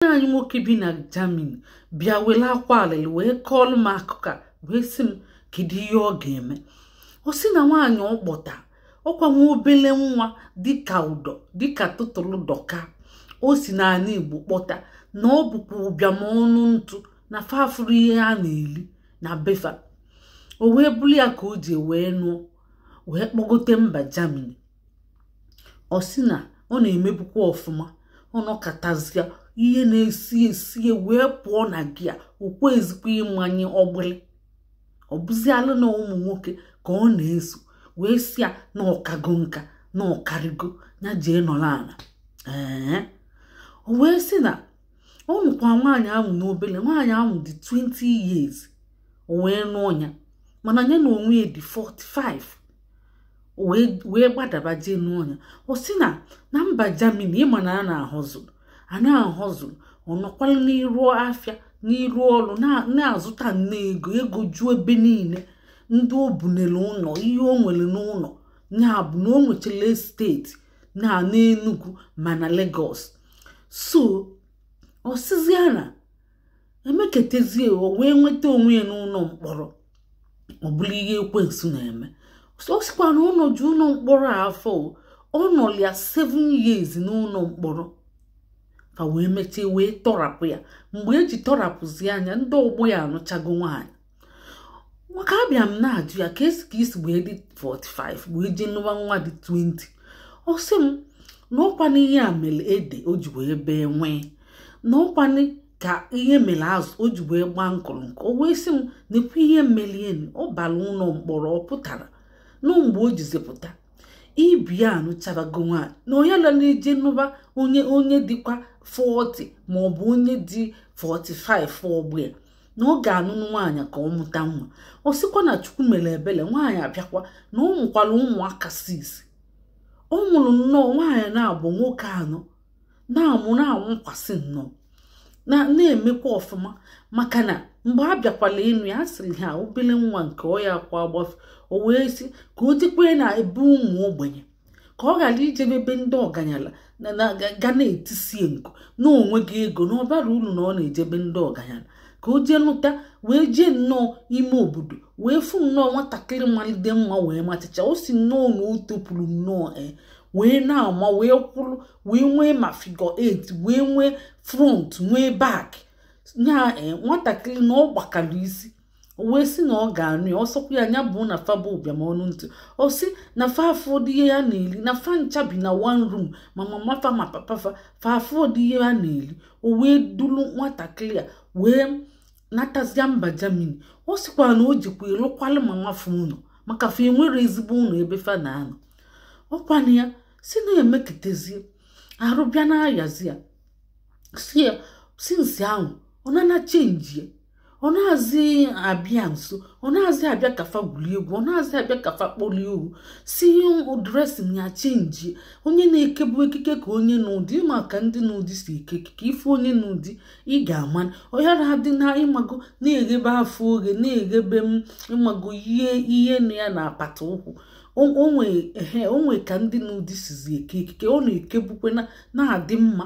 nwanne anyị nwoke bi na Germany bịa were akwa alịlị wee kọọlụ m akụkọ wee sị m kedu ihe ọ ga-eme ọ sị na nwaanyị ọ kpọta ọkwa nwa obele nwa dịka ụdọ dịka tụtụrụ dọka o si n'ani Igbo kpọta na ọ bụkwa ụbịam ọnụ ntụ na fa afụrọ ihe a na-eli na be fa o wee bụrụ ya ka o ji wee nụọ wee kpọgote mba Germany ọ sị na ọ na-emebukwa ọfụma ọ nọkatazịa ihe na-esi esi wee pụọ na gear okwe ezikwa ịmanye ọgbụlị ọ bụzialụ na ụmụ nwoke ka ọ na-eso wee sị ya na ọ kago nka na ọ karịgo nya jee nọrọ ana ee o wee sị na ọ nụkwa nwaanyị ahụ n'obele nwaanyị ahụ dị 20 years o wee nụọ ya mana nya na onwe ya dị 45 wee gbadaba jee nụọ nya ọ sị na na mba Germany ị ma na a na-a hustle a na-a hustle ọ nọkwala n'iru afịa n'iru ọrụ na-azụta nne ego ego juo ebe niile ndị o bunelu ụnọ ihe o nwere n'ụnọ ya bụ na o nwechara estate na n'Enugu ma na Lagos so ọ sịzịa na emekatazie o wee nweta onwe ya n'ụnọ mkpọrọ ọ bụrụ ihe ekwensu na-eme ọ sịkwa na ọ nọzi ụnọ mkpọrọ afọ ọ nọlịa 7 years n'ụnọ mkpọrọ ka e wee mechaa wee tọrapụ ya mgbe e ji tọrapụzịa nya ndị ọgbọ ya anụchago nwaanyị maka abịa m na-ajụ ya ka e si ka i si wee dị 45 wee jee nụba nwa dị 20 ọ sị m na ọkwanụ ihe a mere ede o ji wee bee nwịị na ọkwa ka ihe mere azụ o ji wee gbaa nkulunku o wee sị m nekwa ihe merenụ ọ bara ụnọ mkpọrọ ọ pụtara na mgbe o jizi pụta ibe ya anụchabago nwaanyị na onye la na-eje nụba onye onye dịkwa 40 maọbụ onye dị 45 ọgbọ ya na ọ ga-anụnụ nwaanyị ka ọ mụta nwa ọ sịkwa na chukwu mere ebele nwaanyị a bịakwa na ọ mụkwara ụmụaka 6 ọ mụrụ nnọọ nwaanyị naabọ nwoke anọ na-amụ na-awụkwasị nnọọ na na-emekwa ọfụma maka na mgbe a bịakwala ịnụ ya sịrị ha obele nwa nke ọ ya aka agbafe o wee sị ka o jekwe na ebe ụmụ ogbenye ka ọ ghara ijebe ebe ndị ọganyala ga na-etisie nku na o nwega ego na ọ bara uru na ọ na-ejebe ndị ọganyala ka o jee nụta wee jee nnọọ ime obodo wee fụ nnọọ nwatakịrị malide mma wee machicha o si nnọọ na o topụrụ nnọọ e wee na-ama wee kwụrụ wee nwee ma figure 8 wee nwee front nwee back nya e, nwatakịrị na ọ gbakara isi o wee sị na ọ ga-anụ ya ọ sọkwa ya anya bụ na fa bụ ụbịam ọnụ ntụ ọ sị na fa afọdị ihe a na-eli na fa ncha bi na one room ma mama fa ma papa fa fa afọdị ihe a na-eli o wee dulu nwatakịrị a wee natazia mba Germany ọ sịkwa na o jikwa ịlụkwalụ mama fa ụnọ maka fa enwerọ ezigbo ụnọ ebe fa na-anọ ọ kwa na ya sị na e meketezie arụ bịa na-ayazi ya sị ya since ahụ nwaanyị a chenjie ọ nazị abịa nso ọ nazị abịa ka fa gwulie egwu ọ nazị abịa ka fa kpọrọ ihu sị dressing ya chenjie onye na-ekebu ekike ka onye nụ di ị ma ka ndị nụ di si eke ekike ị fụ onye nụ di ị ga-ama na ọ yara adị na ị mago na-eghebe afọ oghe na-eghebe ị mago ihe ihe na ya na apata ụkwụ o nwe ka ndị nụ di sizi eke ekike ọ na-ekebukwe na-adị mma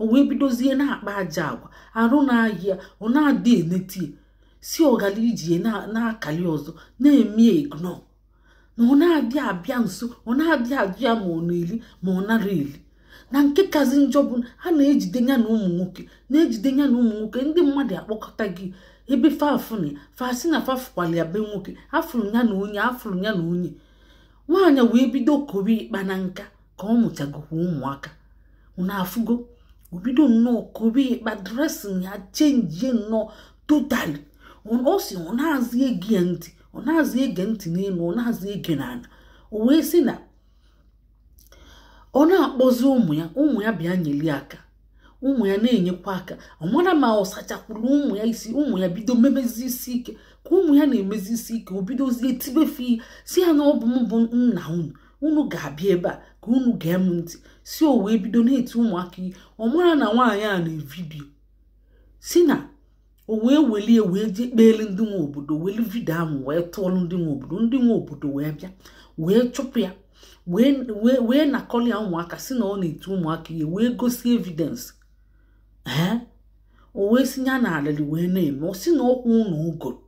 o wee bidozie na-akpa ajọ agwa arụ na-aya ya ọ nadị enete ya sị ọ gala iji na-akali ọzọ na-eme ya ignore na ọ nadị abịa nso ọ nadị ajụ ya ma ọ na-eli ma ọ nara eli na nke kazi njọ bụ na a na-ejide ya na ụmụ nwoke na-ejide ya na ụmụ nwoke ndị mmadụ akpọkọta gị ebe fa fụ ya fa sị na fa fụkwala ya be nwoke a fụrụ ya na onye a fụrụ ya na onye nwaanyị wee bido kowe ịkpa na nka ka ọ mụchagokwa ụmụaka unu afụgo o bido nnọọ kobe ịkpa dressing ya chenjie nnọọ totally ọ sị ọ nazị ege ya ntị ọ nazị ege ntị n'elu ọ nazị ege n'ala o wee sị na ọ na-akpọzi ụmụ ya ụmụ ya bịa nyeli aka ụmụ ya na-enyekwa aka ọ mara ma ọ sachakwuru ụmụ ya isi ụmụ ya bido mebezi isi ike ka ụmụ ya na-emezi isi ike o bidozie tibe fa ihe sị ya na ọ bụ m bụ nna unu unu ga-abịa ebe a ka unu gee m ntị sị o wee bido na-eti ụmụaka ihe ọ mara na nwaanyị a na-evideo sị na o wee welie wee jee kpeelu ndị nwe obodo welu video ahụ wee tụọlụ ndị nwe obodo ndị nwe obodo wee bịa wee chụpụ ya wee nakọli ya ụmụaka sị na ọ na-eti ụmụaka ihe wee gosi evidence ee o wee sị ya na alịlị wee na-eme ọ sị na ọ kwụ ụnọ o goro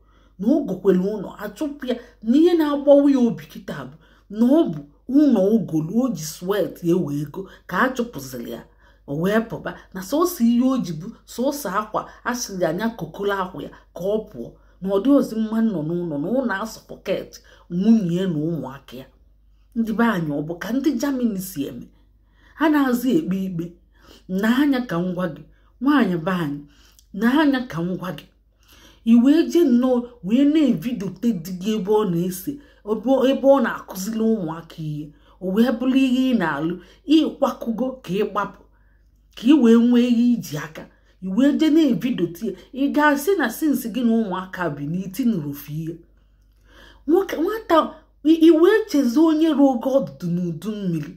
na o gokwere ụnọ a chụpụ ya na ihe na-agbawa ya obi kịta bụ na ọ bụ ụnọ o golu o ji sweat ya wee go ka a chụpụziri ya o wee pụba na sọsọ ihe o ji bụ sọsọ akwa a sịrị ya kpokolo akwa ya ka ọ pụọ na ọ dịrọzi mma ịnọ n'ụnọ na ụnọ asụ pocket nwunye ya na ụmụaka ya ndị be anyị ọ bụ ka ndị Germany si eme a nazị ekpe ikpe na anya ka ngwa gị nwaanyị be anyị na anya ka ngwa gị i wee jee nnọọ wee na-evidote di gị ebe ọ na-ese ebe ọ na-akụziri ụmụaka ihe o wee bụrụ ihe ị na-alụ ị kwakọgo ka ị gbapụ ka ị wee nwee ihe iji aka i wee jee na-evidote ya ị ga-asị na since gị na ụmụaka bi na i tinurọ ofu ihe nwata i wee chezọ onye ruo gị ọdụdụ n'udu mmiri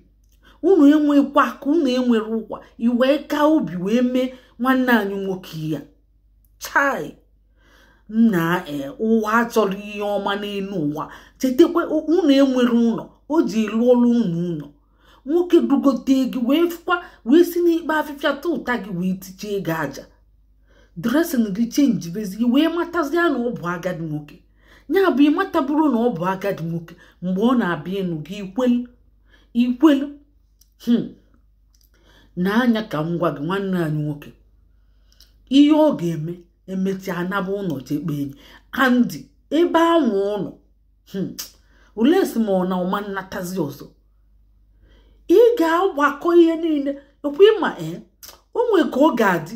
unu enwekwa aka unu enwerọ ụkwụ i wee kaa obi wee mee nwanne anyị nwoke ihe a chai nna eh, ụwa achọrọ ihe ọma n'elu ụwa chetakwa unu enwerọ ụlọ o je lụọlụ unu ụlọ nwoke dugote gị wee fụkwa wee si n'ikpo afịfịa tụụta gị wee tichee gị aja dresin gị chenji bezi gị wee matazie na ọ bụ agadi nwoke ya bụ ị mataburọ na ọ bụ agadi nwoke mgbe ọ na-abịa ịnụ gị i kwelu i kwelu hmm. nwaanyị a ka m gwa gị nwanne anyị nwoke ihe ọ ga-eme emechaa anaba ụlọ jee kpee enyi a ndị ebe a nwe ụlọ hmm. unless ma ọ na ọ ma nnatazi ọzọ ị ga-agbakọ ihe niile ọkwa ị ma ee eh, o nwee ka ọ ga-adị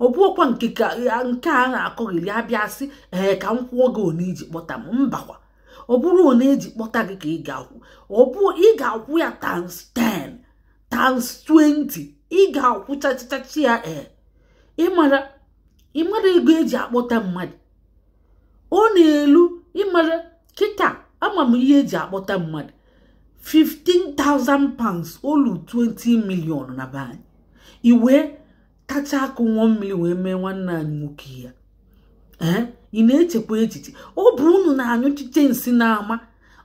ọ bụkwa nke a na-akọghịli abịa sị ee ka m kwụọ gị one i ji kpọta m mbakwa ọ bụrọ one eji kpọta gị ka ị ga-akwụ ọ bụ ị ga-akwụ ya times 10 times 20 ị ga-akwụ chachachachi ya ee ịmara ịmara ego eji akpọta mmadụ ọ na-elu ịmara kịta ama m ihe eji akpọta mmadụ 15,000 pounds o lu 20 million na be anyị i wee tacha akụ ṅụa mmiri wee mee nwanne anyị nwoke ihe a ee ị na-echekwa echiche ọ bụ unu na-anyụchiche nsị n'ama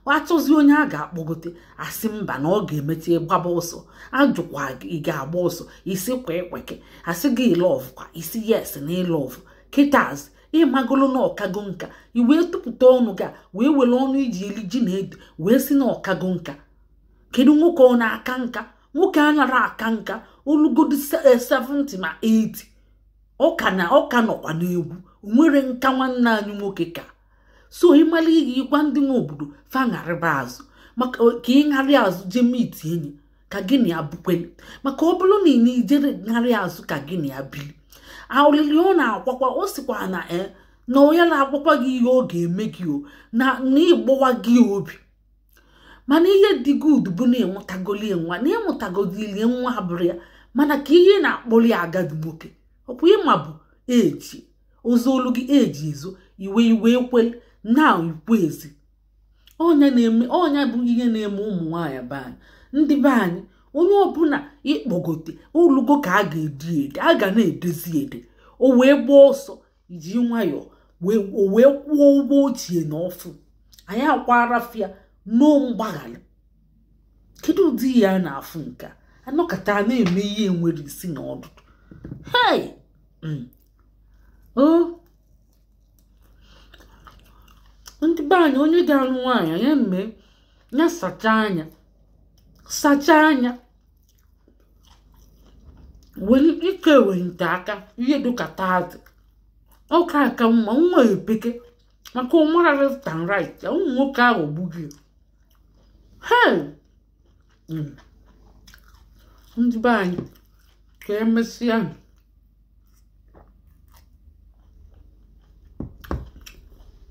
a chọzi onye a ga-akpọgote a sị mba na ọ ga-emechi gbaba ọsọ ajụkwa ị ga-agba ọsọ ị sịkwa ekweke a sị gị ị love kwa ị sị yes na ị love kịtazi ị magolo na ọ kago nka i wee tụpụta ọnụ gị wee were ọnụ i ji eli ji na ede wee sị na ọ kago nka kedu nwoke ọ na-aka nka nwoke anarọ aka nka o lugodu 70 eh, ma 80 ọ ka nọkwa n'egwu o nwerọ nka nwanne anyị nwoke ka so ị mala ihe ị gwa ndị nwe obodo fa gharịba azụ maka eh, ka ị ṅarị azụ jee meet enyi ka gị na ya bukwele maka ọ bụrụ na ị na-ijere ṅarị azụ ka gị na ya bili aolili ọ na-akwakwa ọ sịkwa na e na onye na-agwakwa gị ihe ọ ga-eme gị o na ịgbawa gị obi mana ihe dị good bụ na ị mụtagolie nwa na ị mụtagodili nwa abụrụ ya mana ka ihe na-akpọli agadi nwoke ọkwa ị ma bụ eji ozu olu gị eji ezo i wee i wee kwe na i kwezi ọ nya na-eme ọ nya bụ ihe na-eme ụmụ nwaanyị be anyị ndị be anyị onye ọbụla ị kpọgote o lugo ka a ga-edi ede a ga na-edezi ede o wee gbaa ọsọ iji nwayọọ o wee kwụọ ụgwọ ochie na ọfụụ anyị akwara fịa n'o mgbaghara kedu ụdị ihe a na-afụ nke a a nọkata a na-eme ihe enwerọ isi na ọdụdụ hei mm. ndị be anyị onye ga-alụ nwaanyị ya mee ya sachaa anya sachaa anya were ike ewenite aka ihe dịka thirty ọ ka aka mma nwa epeke maka ọ mara left and right ya ụmụ nwoke ahụ gbughị hei Mm. ndị be anyị ka emesịa